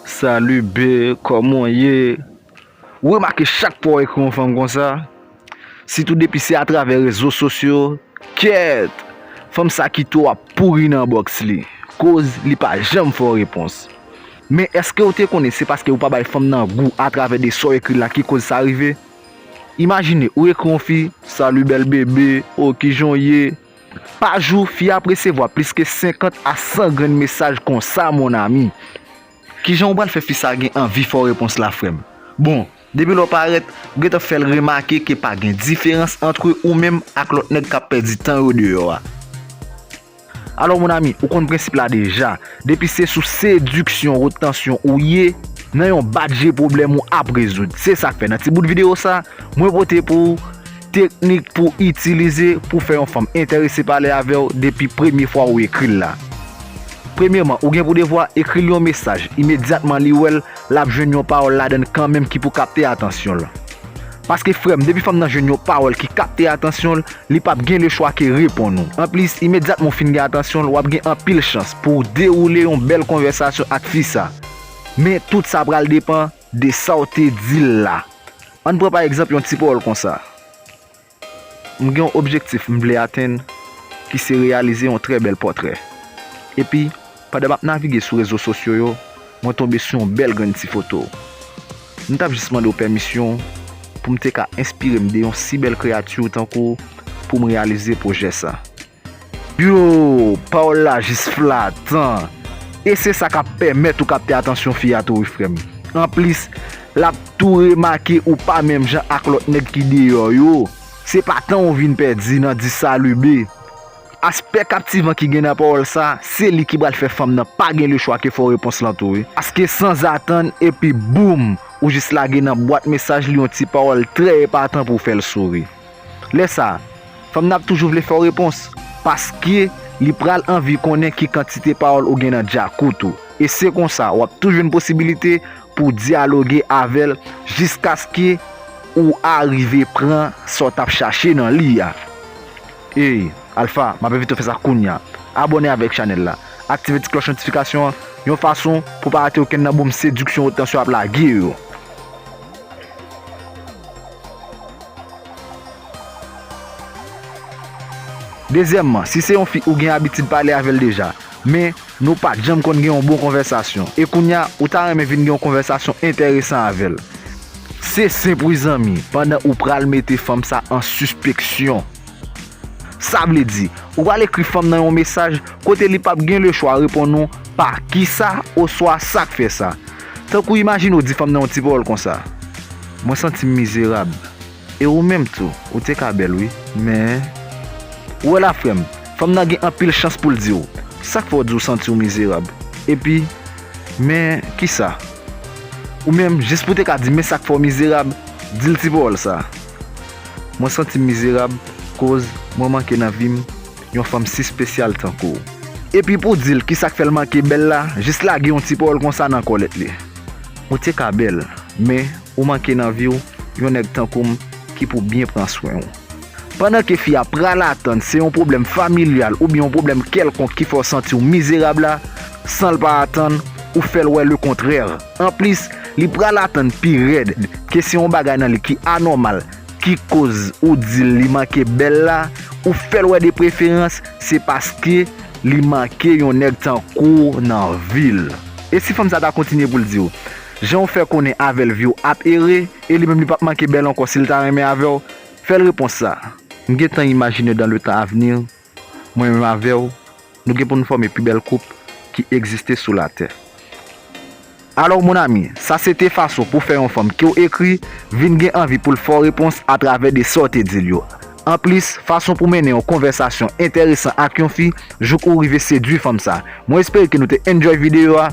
Salut bby kòman w ye Ou remake chak fwa w ekri yon fanm konsa sitou depi se atravè rezo sosyo kyèèt fanm sa kite w ap pouri nan bòks li koz li pa janm fè w repons men èske w te konnen se paske ou pa bay fanm nan gou atravè de sa w ekri la ki koz sa rive imajine ou ekri yon fi Salut belle bébé oh kijan w ye. Pa jou, fi a ap resevwa plis ke 50 a 100 grenn mesaj konsa mon ami. Kijan ou pral fè fi sa gen anvi fè w repons la frè m? Bon, depi lè w parèt, ou gentan fè l remake ke pa gen diferans antre ou menm ak lòt nèg k ap pèdi tan yo deyò a. Alò mon ami, ou konn prensip la deja, depi se sou sediksyon, retansyon ou ye, nan yon bat je pwoblèm ou ap rezoud. Se sa k fè nan ti bout videyo sa, mwen pote pou ou Teknik pou itilize pou fè yon fanm enterese pale avè w depi premye fwa ou ekri l la. Premyeman, ou gen pou devwa ekri l yon mesaj, imedyatman li wè l, l ap jwenn yon pawòl ladan l kanmenm ki pou kapte atansyon l. Paske frè m, depi fanm nan jwenn yon pawòl ki kapte atansyon l, li p ap gen lechwa ke reponn ou. Anplis, imedyatman ou fin gen atansyon l, w ap gen anpil chans pou w dewoule yon bèl konvèsasyon ak fi sa. Men, tout sa pral depan. De sa w te di l la. Ann pran pa egzanp yon ti pawòl konsa, M gen yon objektif m vle atenn ki se reyalize yon trè bèl pòtrè. Epi, pandan m ap navige sou rezo sosyo yo, mwen tonbe sou yon bèl grenn ti foto w. M t ap jis mande w pèmisyon pou m te ka enspire m de yon si bèl kreyati w tankou w pou m reyalize pwojè sa. Yoo, pawòl la jis flatan. E se sa k ap pèmèt ou kapte atansyon fi a tou wi frè m. Anplis, l ap tou remake ou pa menm jan ak lòt nèg ki deyò yo. Se pa tan ou vin pèdi nan di salube. Aspè kaptivan ki gen nan pawòl sa, se li ki pral fè fanm nan pa gen lechwa ke fè w repons lan tou wi. Paske sanzatann, epi boum! Ou jis lage nan bwat mesaj li yon ti pawòl trè epatan pou w fè l souri. Lè sa, fanm nan ap toujou vle fè w repons, paske li pral anvi konnen ki kantite pawòl ou gen nan dyakout ou. E se konsa, w ap toujou jwenn posibilite pou w dyaloge avè l jiskaske ou arive pran sa w t ap chache nan li a. Ey, Alpha, m ap envite w fè sa kounya. Abòne avèk chanèl la. Aktive ti klòch notifikasyon an, yon fason pou w pa rate okenn nan boom sediksyon Otansyo ap lage yo. Dezyèmman, si se yon fi ou gen abitid pale avè l deja, men, nou pa t janm konn gen yon bon konvèsasyon, e kounye a, ou ta renmen vin gen yon konvèsasyon enteresan avè l. Se senp wi zanmi, pandan ou pral mete fanm sa an sispeksyon. Sa vle di, ou pral ekri fanm nan yon mesaj kote li pap gen le chwa reponn ou pa kisa oswa sa k fè sa. Tankou imajine ou di fanm nan yon ti pawòl konsa, Mwen santi m mizerab, e ou menm tou, ou te ka bèl wi, men. Ou wè la frè m, fanm nan gen anpil chans pou l di w, Sa k fè w di w santi w mizerab? Epi, Men kisa? Ou menm, jis pou w te ka di men sa k fè w mizerab, di l ti pawòl sa. Mwen santim mizerab koz mwen manke nan vim yon fanm si spesyal tankouw. Epi pou dil kisak fèl manke bèl la jis lage yon ti pawòl konsa nan kòlèt li. Ou te ka bèl men ou manke nan viw yon nèg tankoum ki pou byen pran swenw. Pandan ke fi a pral atann se yon pwoblèm familyal oubyen yon pwoblèm kèlkonk ki fèw santiw mizerab la sanl pa atann ou fèl wè le kontrè. Anplis, li pral atann pi rèd ke se yon bagay nan li ki anòmal ki koz ou di l li manke bèl la, ou fè l wè de preferans se paske li manke yon nèg tankou w nan vi l. E si fanm sa ta kontinye pou l di w, jan w fè konnen avè l vi w ap ere, e li menm li p ap manke bèl ankò si l ta renmen avè w? Fè l repons sa. M gentan imajine dan le tan avni, Mwen menm avè w, nou gen pou n fòme pi bèl koup ki egziste sou latè. Alò mon ami, sa se te fason pou fè yon fanm ke w ekri vin gen anvi pou l fè w repons atravè de sa w te di l yo. Anplis, fason pou mennen yon konvèsasyon enteresan ak yon fi jouk ou rive sedwi fanm sa. Mwen espere ke nou te enjoy videyo a.